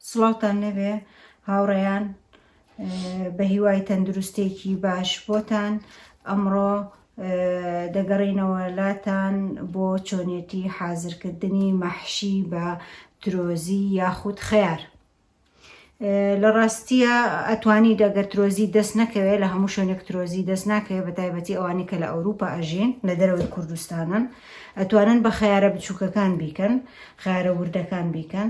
سڵاوتان لێبێ هاوڕێیان بەهیوای تەندروستێکی باش بۆتان ئەمڕۆ دەگەڕینەوە لاتان بۆ چۆنێتی حازرکردنی مەحشی بە ترۆزی یاخود خەیار لە ڕاستیە ئەتوانی دەگەر ترۆزی دەست نەکەوێت لە هەموو شوێنێک ترۆزی دەست ناکەوێت بە تایبەتی ئەوانی کە لە ئەوروپا ئەژین لە دەرەوەی کوردستانن ئەتوانن بە خیارە بچووکەکان بیکەن خیارە وردەکان بیکەن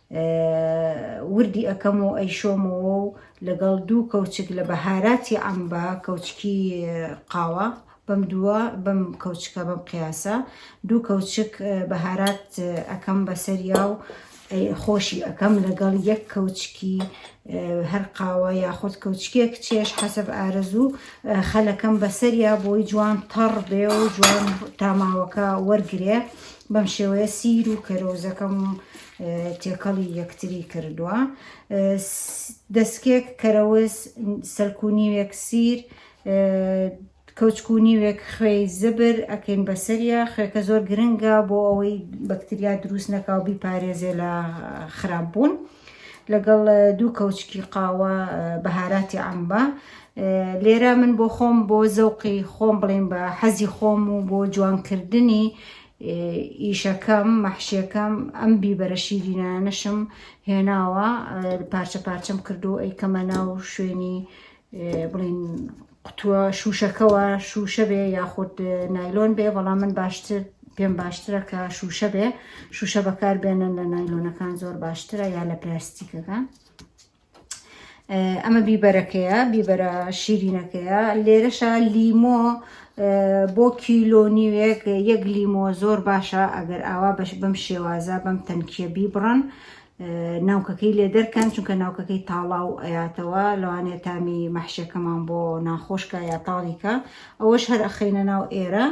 وردی ئەکەم و ئەیشۆمەوە و لەگەڵ دوو کەوچک لە بەهاراتی عەمبا کەوچکی قاوە بەم دووە بەم کەوچکە بەم قیاسە دوو کەوچک بەهارات ئەەکەم بەسەریا و خۆشی ئەەکەم لەگەڵ یەک کەوچکی هەر قاوە یاخود کەوچکێک چێش حەسب ئارەزوو خەلەکەم بەسەریا بۆی جوان تەڕ بێ و جوان تاماوەکە وەرگێ بەم شێوەیە سیر و کەرۆزەکەم تێکەڵی یەکتری کردووە دەستکێک کەرەوز سەلکونیوێک سیر کەوچکونیوێک خوێی زبر ئەکەین بەسەریا خوێکە زۆر گرنگە بۆ ئەوەی بەکتریا دروست نەکاو بیپارێزێ لە خراپ بوون لەگەڵ دوو کەوچکی قاوە بەهاراتی ئەمبا لێرە من بۆ خۆم بۆ زەوقی خۆم بڵێن بە حەزی خۆم و بۆ جوانکردنی ئیشەکەم، مەحشیەکەم، ئەم بیبەرە شیرینانەشم هێناوە پارچە پارچەم کردو ئەیکەمە ناو شوێنی بڵین قوتووە شوشەکەەوە شوشە بێ یاخود نایلۆن بێ بەڵام من باشتر پێم باشترە کە شوشە بێ شوشە بەکار بێنن لە نایلۆنەکان زۆر باشترە یا لە پلاستیکەکان. ئەمە بیبەرەکەیە بیبەرە شیرینەکەیە لێرەشە لیمۆ بۆ کیلۆ نیوێک یەک لیمۆ زۆر باشە ئەگەر ئاوا بەش بەم شێوازە بەم تەنکیە بیبڕن ناوکەکەی لێ دەرکەن چونکە ناوکەکەی تاڵا و ئەیاتەوە لەوانێ تامی مەحشەکەمان بۆ ناخۆشکە یا تاڵیکە ئەوەش هەر ئەخینە ناو ئێرە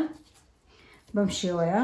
بەم شێوەیە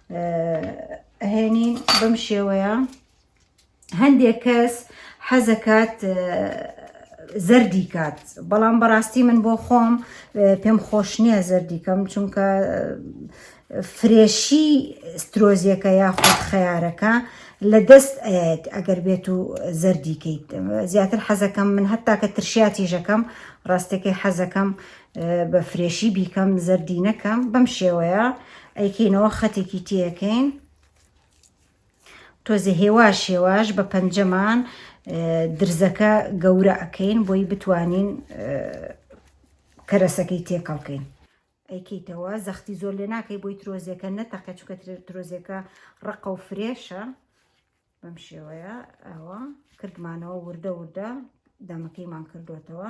ئەهێنین بەم شێوەیە هەندێک کەس حەزەکات زەردی کات بەڵام بەڕاستی من بۆ خۆم پێم خۆش نییە زەردی کەم چونکە فرێشی سترۆزیەکە یاخود خەیارەکە لە دەست ئەیەت ئەگەر بێت و زەردیکەیت زیاتر حەزەکەم من هەتا کە ترشیاتی ژەکەم ڕاستەکەی حەزەکەم بە فرێشی بیکەم زەردی نەکەم بەم شێوەیە ئەیکەینەوە خەتێکی تێەکەین تۆزێ هێواش هێواش بە پەنجەمان درزەکە گەورە ئەەکەین بۆی بتوانین کەرەسەکەی تێکەڵکەین ئەیکەیتەوە زەختی زۆر لێ ناکەی بۆی ترۆزیەکە نەتەقە چکە ترۆزیەکە ڕقە و فرێشە بەم شێوەیە ئەوە کردمانەوە وردە وردە دەمەکەیمان کردوێتەوە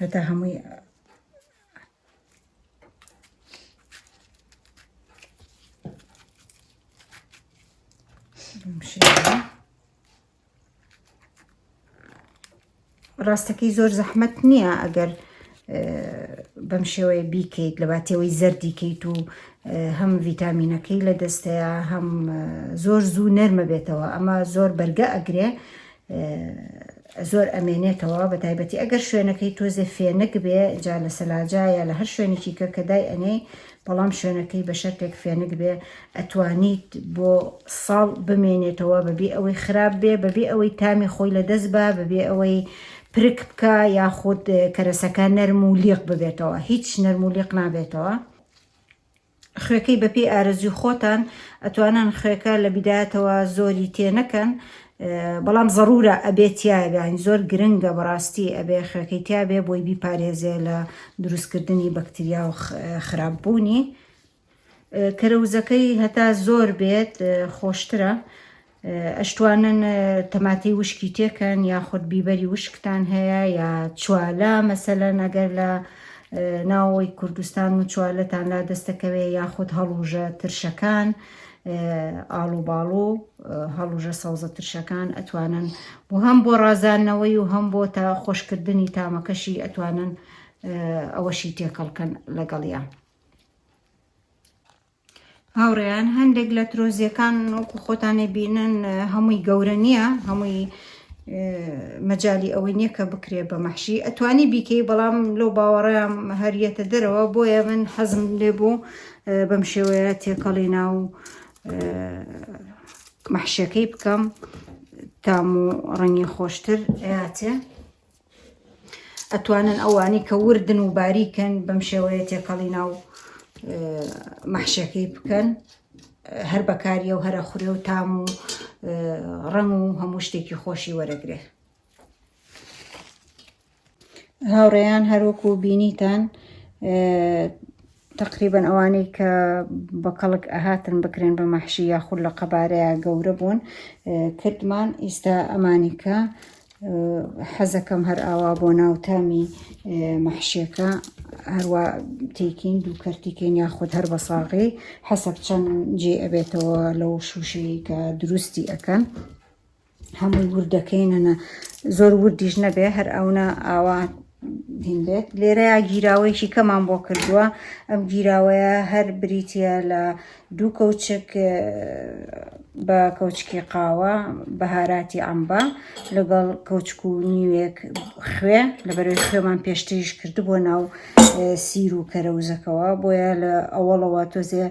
هەتا هەمووی ڕاستەکەی زۆر زەحمت نییە ئەگەر بەم شێوەیە بیکەیت لە باتێەوەی زەردیکەیت و هەم ڤیتامینەکەی لە دەستەیە هەم زۆر زوو نەرمە بێتەوە ئەمە زۆر بەرگە ئەگرێ زۆر ئەمێنێتەوە بەتایبەتی ئەگەر شوێنەکەی تۆزێ فێنک بێ جا لە سەلاجا یا لە هەر شوێنێکی کە کە دای ئەنێ بەڵام شوێنەکەی بە شەرتێک فێنک بێ ئەتوانیت بۆ ساڵ بمێنێتەوە بەبێ ئەوەی خراپ بێ بەبێ ئەوەی تامی خۆی لە دەست بە بەبێ ئەوەی پرک بکە یاخود کەرەسەکە نەرم و لیق ببێتەوە هیچ نەرم و لیق نابێتەوە خوێکەی بەپێی ئارەزوی خۆتان ئەتوانن خوێکە لە بیدایەتەوە زۆری تێ نەکەن بەڵام زەڕورە ئەبێ تیابێ ئەین زۆر گرنگە بەڕاستی ئەبێ خوێکەی تیابێ بۆی بیپارێزێ لە دروستکردنی بەکتریا و خراپ بوونی کەرەوزەکەی هەتا زۆر بێت خۆشترە ئەشتوانن تەماتەی وشکی تێکەن یاخود بیبەری وشکتان هەیە یا چوالە مەسەلەن ئەگەر لە ناوەوەی کوردستان و چوالەتان لا دەستەکەوێ یاخود هەڵوژە ترشەکان ئاڵو باڵ و هەڵوژە سەوزە ترشەکان ئەتوانن و هەم بۆ ڕازانەوەی و هەم بۆ تا خۆشکردنی تامەکەشی ئەتوانن ئەوەشی تێکەڵکەن لەگەڵیان هاوڕێیان هەندێک لە ترۆزیەکان وەکو خۆتانی بینن هەمووی گەورە نییە هەمووی مەجای ئەوەی نییە کە بکرێت بە مەحشی ئەتوانی بیکەی بەڵام لۆ باوەڕیان هەریەتە دەرەوە بۆیە من حەزم لێ بوو بەم شێوەیە تێکەڵی ناو مەحشەکەی بکەم تام و ڕەنگی خۆشتر ئەاتێ ئەتوانن ئەوانەی کە وردن و باریکن بەم شێوەیە تێکەڵی ناو مەحشەکەی بکەن هەر بەکاریە و هەرە خورێ و تام و ڕەنگ و هەموو شتێکی خۆشی وەرەگرێ هاوڕێیان هەروەکو بینیتان تەقریبەن ئەوانەی کە بە کەڵک ئەهاتن بکرێن بە مەحشی یاخود لە قەبارەیە گەورە بوون کردمان ئیستا ئەمانی کە حەزەکەم هەر ئاوا بۆ ناو تامی مەحشیەکە هەروە تێکین دوو کەرتیکەین یاخود هەر بە ساغی حەسەب چەند جێ ئەبێتەوە لەو شووشەیە دروستی ئەەکەن هەمووی ورد دەکەینەنە زۆر وردیش نەبێ هەر ئەونا ئاوا بێت لێرەیە گیراوەیەکی کەمان بۆ کردووە ئەم گیراوەیە هەر بریتە لە دوو کەوچک بە کەوچکی قاوە بەهاراتی ئەمبا لەگەڵ کەوچک و نیوێک خوێ لە بەرەوەی خوێمان پێشتریش کردبووە ناو سیر و کەرەوزەکەەوە بۆیە لە ئەوەڵەوە تۆزێ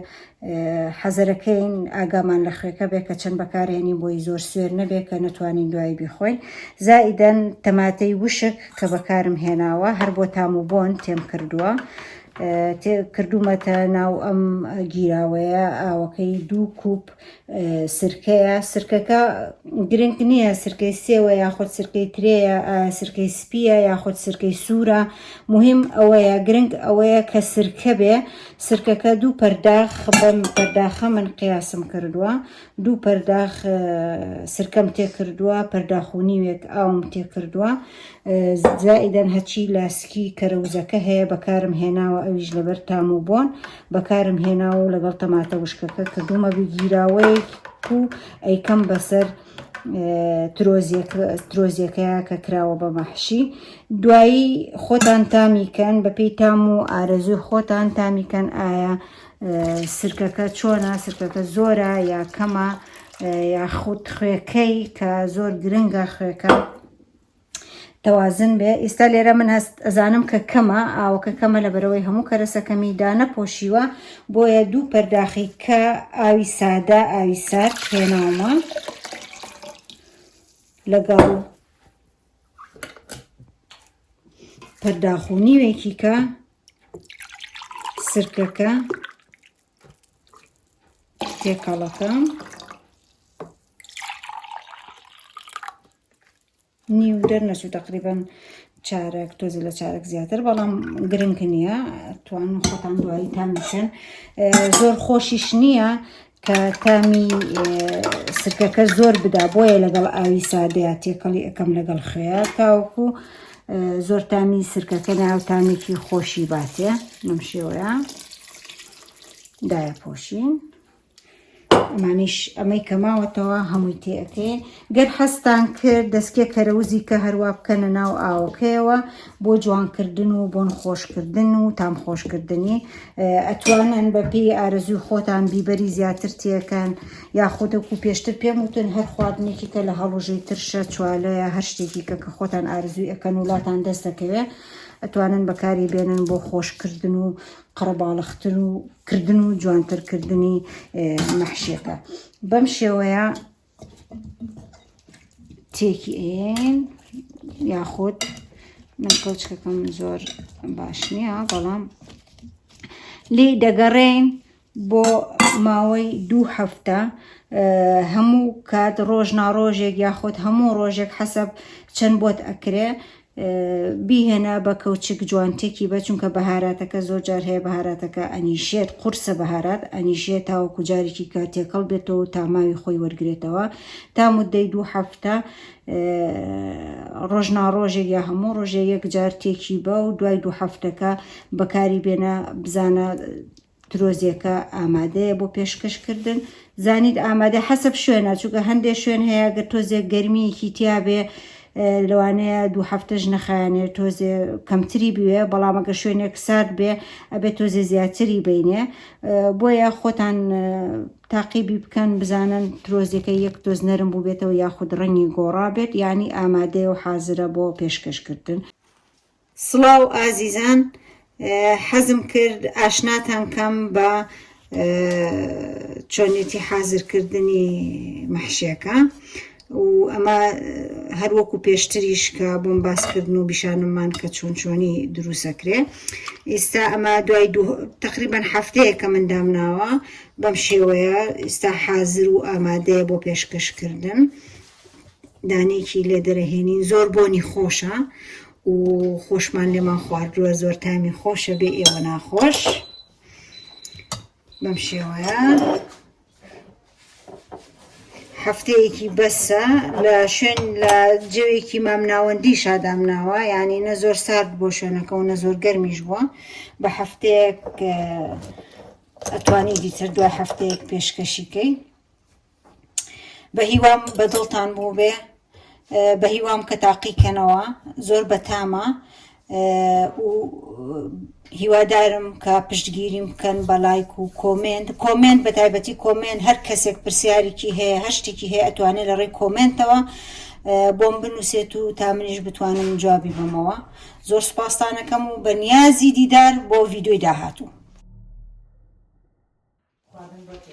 حەزەرەکەین ئاگامان لە خوێکە بێ کە چەند بەکارهێنین بۆی زۆر سوێر نەبێ کە نەتوانین دوایی بیخۆین زائیدەن تەماتەی وشک کە بەکارم هێناوە هەر بۆ تام و بۆن تێم کردووە کردوومەتە ناو ئەم گیراوەیە ئاوەکەی دوو کوپ سرکەیە سرکەکە گرنگ نییە سرکەی سێوە یاخود سرکەی ترێە سرکەی سپیە یاخود سرکەی سوورە مهم ئەوەیە گرنگ ئەوەیە کە سرکە بێ سرکەکە دوو پەرداخ بەم پەرداخە من قیاسم کردووە دوو پەرداخ سرکەم تێکردووە پەرداخونیوێک ئاوم تێکردووە زائیدەن هەچی لاسکی کەرەوزەکە هەیە بەکارم هێناوە ئەویش لەبەر تام و بۆن بەکارم هێناوە و لەگەڵ تەماتە وشکەکە کردومە بگیراوەیەک و ئەیکەم بەسەر ترۆزیەکەیا کە کراوە بە مەحشی دوایی خۆتان تامیکەن بەپی تام و ئارەزوی خۆتان تامیکەن ئایا سرکەکە چۆنا سرکەکە زۆرە یا کەمە یاخود خوێکەی کە زۆر گرنگە خوێکە توازن بێ ئیستا لێرە من هەست ئەزانم کە کەمە ئاوەکە کەمە لە بەرەوەی هەموو کەرەسەکەمی دا نەپۆشیوە بۆیە دوو پەرداخی کە ئاوی سادە ئاوی سارد هێناومە لەگەڵ پەرداخو نیوێکی کە سرکەکە تێکەڵەکەم نیو دەرنەچوو تقریبن چارەک تۆزی لە چارەک زیاتر بەڵام گرنگ نییە توان خۆتان دوایی تامیچن زۆر خۆشیش نییە کە تامی سرکەکە زۆر بدا بۆیە لەگەڵ ئاوی سادەیە تێکەڵی ئەەکەم لەگەڵ خوێ تاوەکو زۆر تامی سرکەکە ناو تامێکی خۆشی باتێ نم شێوەیە دایە پۆشین. ئەمانیش ئەمەی کە ماوەتەوە هەمووی تێەکەین گەر حەستان کرد دەستکێ کەرەوزی کە هەروە بکەنە ناو ئاوەکەیەوە بۆ جوانکردن و بۆن خۆشکردن و تام خۆشکردنی ئەتوانن بە پێی ئارەزوی خۆتان بیبەری زیاتر تێەکەن یاخودەکو پێشتر پێم وتن هەر خواردنێکی کە لە هەڵوژەی ترشە چوالەیە هەر شتێکی کە کە خۆتان ئارزوی ئەەکەن ولاتان دەست دەکەوێت ئەتوانن بەکاری بێنن بۆ خۆشکردن و قەرەباڵغتر و کردن و جوانتر کردنی مەحشیەکە بەم شێوەیە تێکی ئەین یاخود من کەوچکەکەم زۆر باش نییە بەڵام لی دەگەڕێین بۆ ماوەی دوو هەفتە هەموو کات ڕۆژ ناڕۆژێک یاخود هەموو ڕۆژێک حەسب چەند بۆت ئەکرێ بیهێنە بە کەوچک جوانتێکی بە چونکە بەهاراتەکە زۆر جار هەیە بەهاراتەکە ئەنیشێت قورسە بەهارات ئەنیشێت تاوەکو جارێکی کە تێکەڵ بێتەوە تاماوی خۆی وەرگێتەوە تا مدەی دوو هەفتە ڕۆژناڕۆژێ یا هەموو ڕۆژێ یەک جار تێکی بە و دوای دوو هەفتەکە بەکاری بێنە بزانە ترۆزێکە ئامادەیە بۆ پێشکەش کردن زانیت ئامادە حەسب شوێنە چونکە هەندێک شوێن هەیە گە تۆزێک گەرمیەکی تیاابێ لەوانەیە دوو هەفتەش نەخایانێ تۆزێ کەمتری بوێ بەڵامەگە شوێنێک سارد بێ ئەبێت تۆزێ زیاتری بینێ بۆیە خۆتان تاقیبی بکەن بزانن ترۆزیەکە یەک تۆز نەرم بوو بێتەوە یاخود ڕەنگی گۆڕا بێت ینی ئامادەیە و حازرە بۆ پێشکەشکردن سڵاو ئازیزان حەزم کرد ئاشناتان کەم بە چۆنێتی حازرکردنی مەحشێکە و ئەمە هەروەکو پێشتریش کە بۆم باسکردن و بیشانممان کە چۆن چۆنی دروسەکرێ ئیستا ئەمە دوای تقریبان هەفتەیە کە من دامناوە بەم شێوەیە ئیستا حازر و ئامادەیە بۆ پێشکەشکردن دانێکی لێ دەرەهێنین زۆر بۆنی خۆشە و خۆشمان لێمان خواردووە زۆر تامی خۆشە بێ ئێوە ناخۆش بەم شێوەیە هەفتەیەکی بەسە لە شوێن لە جەوێکی مامناوەندی شادام ناوە یعنی نە زۆر سارد بۆ شوێنەکەەوە نە زۆر گەرمیش بووە بە هەفتەیەک ئەتوانی دیتر دوای هەفتەیەک پێشکەشیکەی بە هیوام بە دڵتان بوو بێ بە هیوام کە تاقیکەنەوە زۆر بەتامە و هیوادارم کە پشتگیریم بکەن بە لایک و کۆمنت کۆمنت بە تایبەتی کۆمنت هەر کەسێک پرسیارێکی هەیە هەشتێکی هەیە ئەتوانێت لە ڕێی کۆمنتەوە بۆم بنووسێت و تا منیش بتوانم جوابی بمەوە زۆر سپاستانەکەم و بە نیازی دیدار بۆ ڤیددیوی داهاتوو